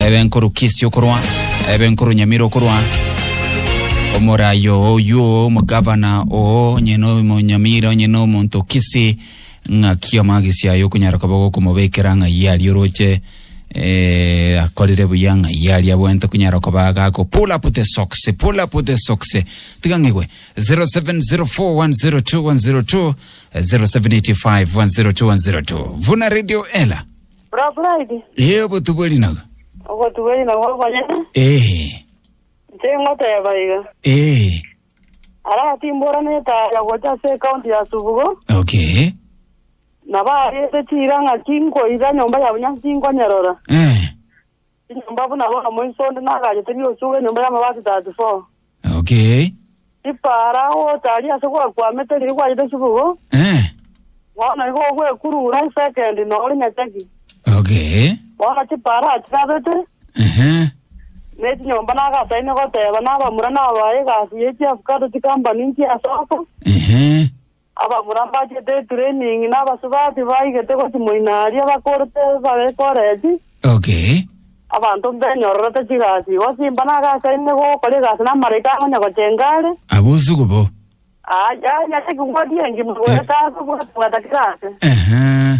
Ebe nkoru Kisi okorwa, ebe nkoru Nyamira okorwa, omorayi oo oywo oo omogavana oo onye na omonyamira onye na omonto Kisi ng'aki amagisi aye okonyara koba gokomobekera ng'ai aria oroche eh, akorire buya ng'ai aria abwente okonyara koba agako pull up the socks pull up the socks tiga ng'igwe 0704102102 0785102102 vuna radio ela Braburaidi. Ee, obotubori naga. Obotubori nabwo obonyene. Ee. Nche ngoteba iga. Ee. Aratimbora netaya gocha ase ekaunti ya Subugo. Okay. Nabo arete chira ng'aki nkoira nyomba ya bunyansi nkonyerora. Ee. Chinyomba buna bono moiso onde nagachete biosugo enyomba y'amabati 34. Okay. Ripaara gotari ase gwakwamete riria gwachete chibugo, Eh. bono igo ogwekurura esekendi nore nyachagi. Okay. Bono chipaara achigabete, Ehe. ne chinyomba nagataini goteba nabamura nabae egasi ye chiavukado chikambani nchiasoka. Ehe. Ababura mbachete eturening na abasubati baigete gosimoina aria bakorete bare Koresi. Okay. Abanto mbenyororete chigasi igo simba nagasaine gokora egasi namaraika akonya gochenga are. Abosugu bo. Aa, yaya, egigwa gie engima egoeta ase obwata bwata kera ase. Ehe.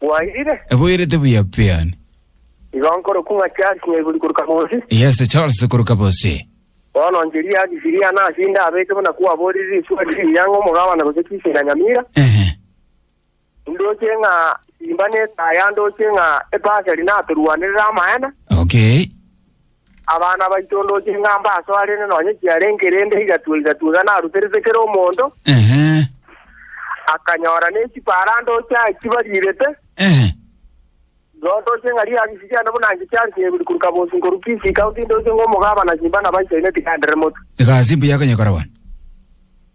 Bwairire? Eboirete buya pean. Igo nkorokwa ng'a Charles Nyaiburi korwa Kabosi. Yes, Charles korwa Kabosi. Bono nchirie ase Siriana ase inde abeke buna kwaborire riswali riria ng'a omogabana gose chichi na nyamira. Ehe. Indoche ng'a simba netaya ndoche ng'a ebasari natorwanerere amaene. Okay. Abana baito ndoche ng'a mbasoa rende nonye chiarenge rende igatwe igatwe iga naruterete kera omonto, Ehe. akanyora ne chipara ndoche aye chibarirete, Ehe. igo ndoche ng'a riagisi riane buna inche chiarenge ibiri koruka bonsi nkoru Kisii County ndoche ng'a omogabana simba nabaisaine tigenderere motwe. Egasi mbuya ekonyekora bono.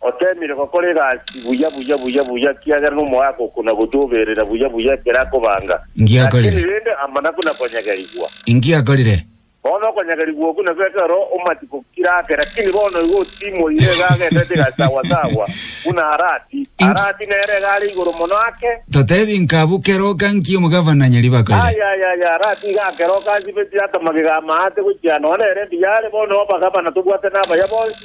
Oteemire gokora egasi buya buya buya buya, ekiagera nomoaka okonagotu oberera buya buya ekero akobanga. Lakini rende amanaku na konyegerigwa. Inki akorire? Bono okonyegerigwa okwo nabio ekero omatiku kire ake, lakini bono igo otimoire, iga agenderete egasi sawa sawa buna Arati. Arati nere iga are igoro mono ake. Totebi nka abwo keroka nki omogavana nyaribbe akorire? Aya, aya, aya, Arati iga akeroka ansibetie atamagega amaate gochia nonya nere mbiya are. Bono abagavana tobwate nabaya bonsi.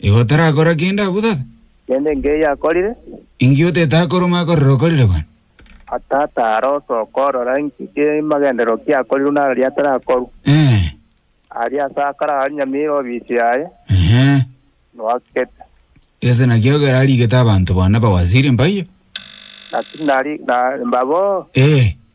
Igo otarakora kende abwo, tata? Kende enke yakorire? Inki otetakoromi akorire okorire bono? A Tata, ara osoka orora inki kimagenderero kiakorirwe na araria atarakorwa. Eeh. Aria ase akare aranyamire obisi yaye, Ehe. noakete. Gese naki ekero arigete abanto bono bawasiri mbaiyo? Naki nari na mbabo. Eeh.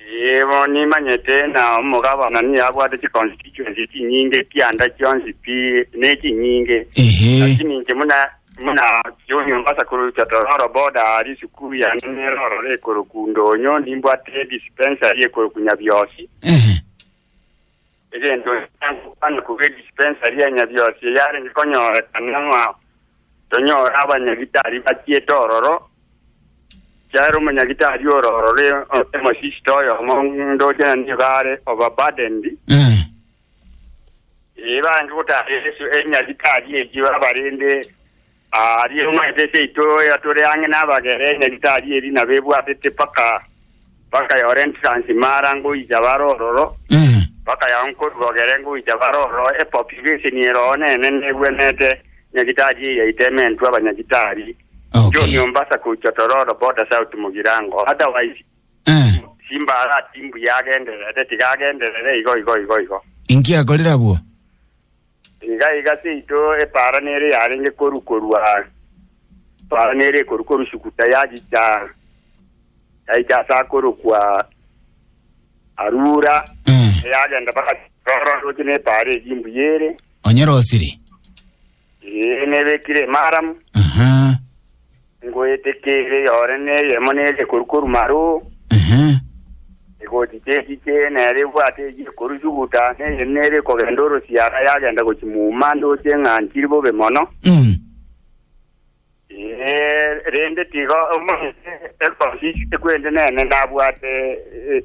Ee, bono nimanyete ng'a omogabana nigo abwate chiconstituency chinyinge chianda chionsi pi, ne chinyinge. Ehe. Lakini inche buna buna junior mbasa korusia tororo boda aa risukuru yane nero ororo ekoroku ndonyo, nimbwate dispensary ekoroku Nyabiosi. Ehe. Egento ekiya nkokwana korwa edispensari ya Nyabiosi eyarenge konyorekana ng'ao tonyore abanyagitari bachiete ororo, chiaera omonyagitari ore ororo onte mosisito oyomo ndoche na nigo are overburdened. Eh. Ee, barenge gotara Yesu enyagitari eyio abarende Aa, riire ng'a etete yaito eyatore ang'e nabagere enyarito aria eria nabo ebwatete mpaka bakayora entrance imara ngoicha bare ororo, Eh. bakayao nkorugogere ngoicha bare ororo, epopulation eroo nene negwenete nyagitari eye yaito ementwe abanyagitari. Okay. John Ombasa goicha Tororo boda south Mugirango. Otherwise, Eh. Simba arati mbuya agenderere, tiga agenderere igo igo igo igo. Inki akorire abwo? Iga iga seito epaara nere yarenge koru korua epaara nere ekoru koru Sukuta yagicha yaicha ase akorokwa Arura Eh. eyagenda mpaka Roro roche nepaara egi imbuya ere Onye rosiri. ee nebekire emaramu Aha. Ngoete kere yore neyemo negekoru korwa maroo, Ehe. egoti chechiche nere ebwate egekoru suguta, neyende nere ekogenda orosiara yagenda gochia muma ndoche ng'a ntiri bobe mono. Mm. Ee, rende tiga omanyete egosi ekwende nene nabwate eh,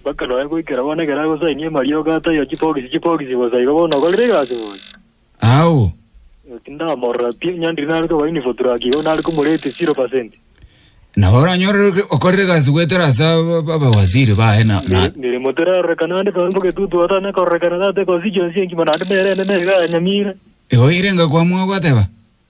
Mpaka nonya goikera bono ekero agosainia amariogo aa taiyo chibogisi chibogisi bosa igo bono okorire egasi bono. Ao. Igo tindamorora pi, onye ndiri nare koba infotrack igo nare komorate zero percent. Nabo oranyorire ki- okorire egasi goetera ase aba- aba- abawaziri baye na- na- Mere- Meremo terarorekana ande tore mbogetutu ota ne kororekana tate constituency engima naende nere ene nere iga ya Nyamira. Igo oirenge kwamua ogoteba.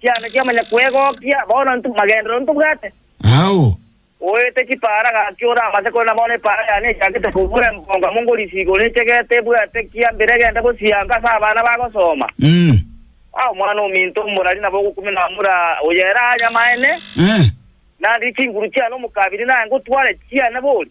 Chiana chi'amanya kwegokia, bono intwe magenderero ntobwate. Ao. Oete chipaara gaki ore amase, korende bono epaara yane echakete kobua embongo amo ngorisiga ore echegete ebwate kia mbere egende gosianka ase abana bagosoma. Umm. Aa omwana ominto omorari nabo ogokumina amura oyo ere aanyamaene. Eeh. Naende chinguru chiane omokabiri naye ngotware chiane bori.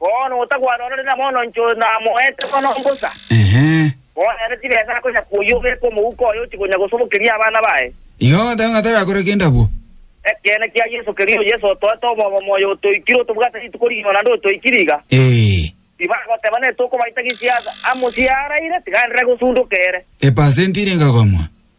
Bono otagwana orore na mono inche oyo namoete mono mbosa, bono ere tigensa akonya koyia obeke omouko oye ochie konya gosobokeria abana baye. Igo ogoteba ng'a tarakore kende abwo. Ekeene kia Yeso keria, oyo Yeso otoete omobomo, oyo otoikire, otobwate rituko rigima naende otoikire iga. Ee. Tibagoteba nere tokobaita gisiasa amo siaraire, tiga ndire gosundoka ere. Epasenti ere egakong'wa.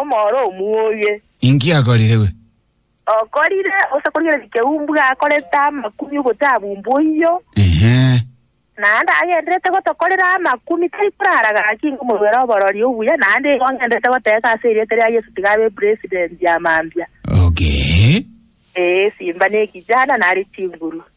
Omoro omuoye. Inki akorire we? Okorire gose korigereria keumbwa gakorete amakumi ogotabu umbu oyio. Ehe. Naende agenderete gotokorera amakumi tari korara gaki ingo morwere oborori obuya naende igo ngenderete goteesa ase erieta ria Yesu tiga abe president ya mambia. Okay. Ee, simba ne ekijana nare chinguru.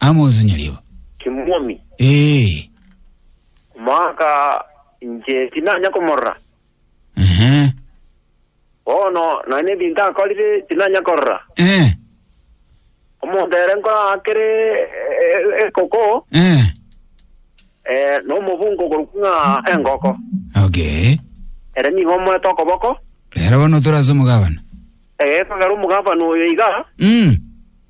Amos nyario. Kimwaomi. Ee. Omwaka inche tinanya komorora. Ehe. Bono nonye nebinto akorire tinanya korora. Ee. Omonto ere nkora akere e- ekoko, Ee. eh, nomobungo korokwa ng'a engoko. Okay. Ere nigo omoete okoboko, Rero bono torase omogabana. egekogera omogabana oyo iga, Mm.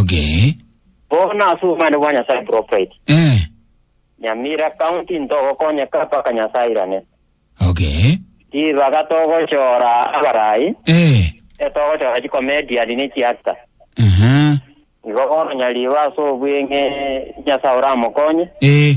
Okay. Bono ase obomani bwa Nyasae bro Fred. Eh. Nyamira County ntogokonyeka mpaka Nyasae airane. Okay. Ribaga togochora abarai, Eh. etogochora chikomedian ne chiactor. Aha. Igo bono nyaribo ase obweng'e Nyasae oramokonye. Eh.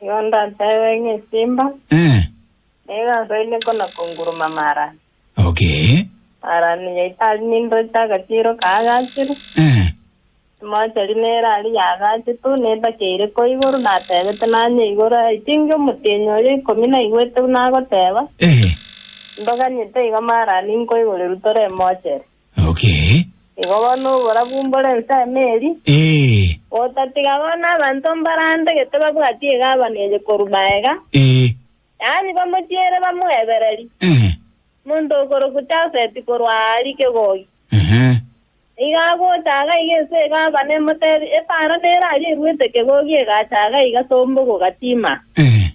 Nigo ndatebe ng'a esimba Eh, nigo asaine kona konguruma mara. okay. Mara niyo itari nindoche agachiro kaagachire. Eh, Emocheri nere aria yaagache tu, nedaka eire ko igoro natebete nanye igoro. I think omotienyi oria ikomi naigwete buna agoteba, eh, Ndoganyete iga mara ninkoigoreru tore emocheri. Okay. Igo bono oborabu mbore ense emeeri, Ee. gotatiga bono abanto mbarande gete babwatie egabane eye korwa magega, Ee. yaani bamochiere bamoebereri, Ehe. omonto okorokwa Jafeti korwa aria kegogi. Ehe. Nigo agocha iga iga ense egabane emotebie, Epara nere aria eruete kegogi egacha iga iga sombogo gatima. Ehe.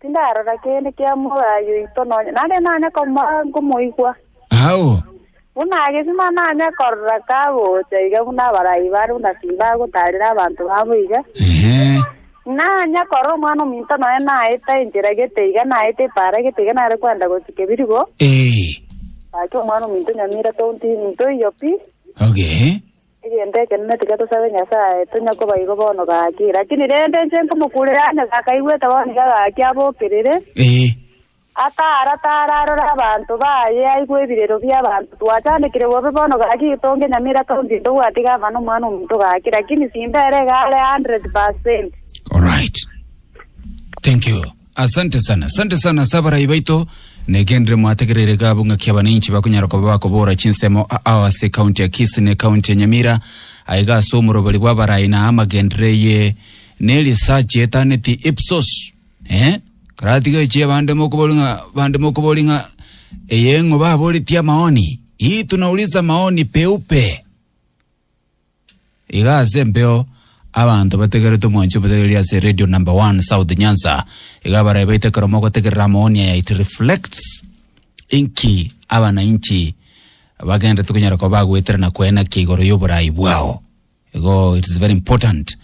Tindarora kende kia moyo oito nonya, nare nanye komoa nkomoigwa. Ao. Buna agesima nanye korora kagocha iga buna abarai bare buna timbagotarera abanto babo iga. Ehe. Nanye korora omwana ominto nonya naeta enchera gete iga naeta epaara gete iga nare kwenda gochika ebirigo. Ee. Gaki omwana ominto nyamira tounti ninto iyo pi. Okay. Egento ekenene tiga tosabe Nyasae tonya koba igo bono gaki, lakini rende inche nkomokurera onye gakaigwete bono niga gaki abokerere, Ee. akaara taara arore abanto baye aigwe ebirero bi'abanto. Twachandekire bobe bono gaki getonge nyamera kaunti eye tobwati gavana omwana omonto gaki, lakini simbera iga are 100%. Alright. Thank you. Asante sana, asante sana ase abarai baito. Negenderere mwategereire iga abwo ng'aki abananchi bakonyara koba bakobora chinsemo aao ase ekaunti ya Kisii na ekaunti ya Nyamira. Aiga ase omoroberi bwa abarai na amagenderero eye ne research etaneti Ipsos. Eh, karatiga echi abande mokobori ng'a bande mokobori ng'a eye ng'o baboretie amaoni. Hii tunauliza maoni peupe. Iga ase empeo abanto bategerete omwanchi omotegereri ase Radio Number One South Nyanza iga barae baite ekero mogotegerera amaoni aya it reflects inki abanainchi bagenderete konyara koba bagoeterana kwena ki igoro y'oborai bwao igo it is very important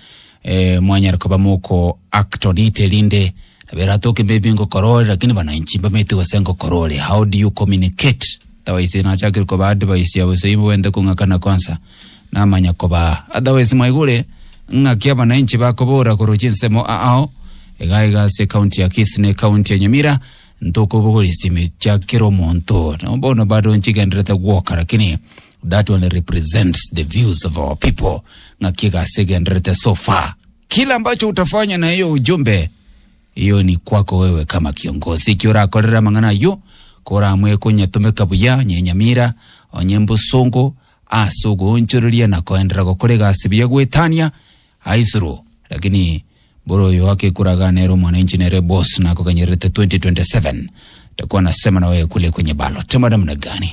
eh, mwanyara koba moko act on it erinde nabo eratoke maybe ngokora ore lakini banainchi mbamaete gose ngokora ore how do you communicate otherwise nachakire koba advice ya bosa ibo bwente kong'akana kwansa Namanya kobaa. Otherwise mwaigure ng'aki abananchi bakobora korochia ensemo aao igaa igaa ase ecounty ya Kisii na ecounty ya Nyamira ntokobogora esimi chia kera omonto nabo bono bado nchigenderete gwoka lakini that only represents the views of our people ng'aki egasi egenderete so far kila ambacho utafanya na hiyo ujumbe hiyo ni kwako wewe kama kiongozi ekio orakorera amang'ana ayio koramwe konyatomeka buya onye nyamira onye mbusongo ase ogoonchoreria na koenderera gokorega ase ebiya goetania aisuru lakini bore oyo agekoraga nere omwananchi nere boss nakoganyererete 2027 takwana sema nawe kule kwenye ballot mara muna gani.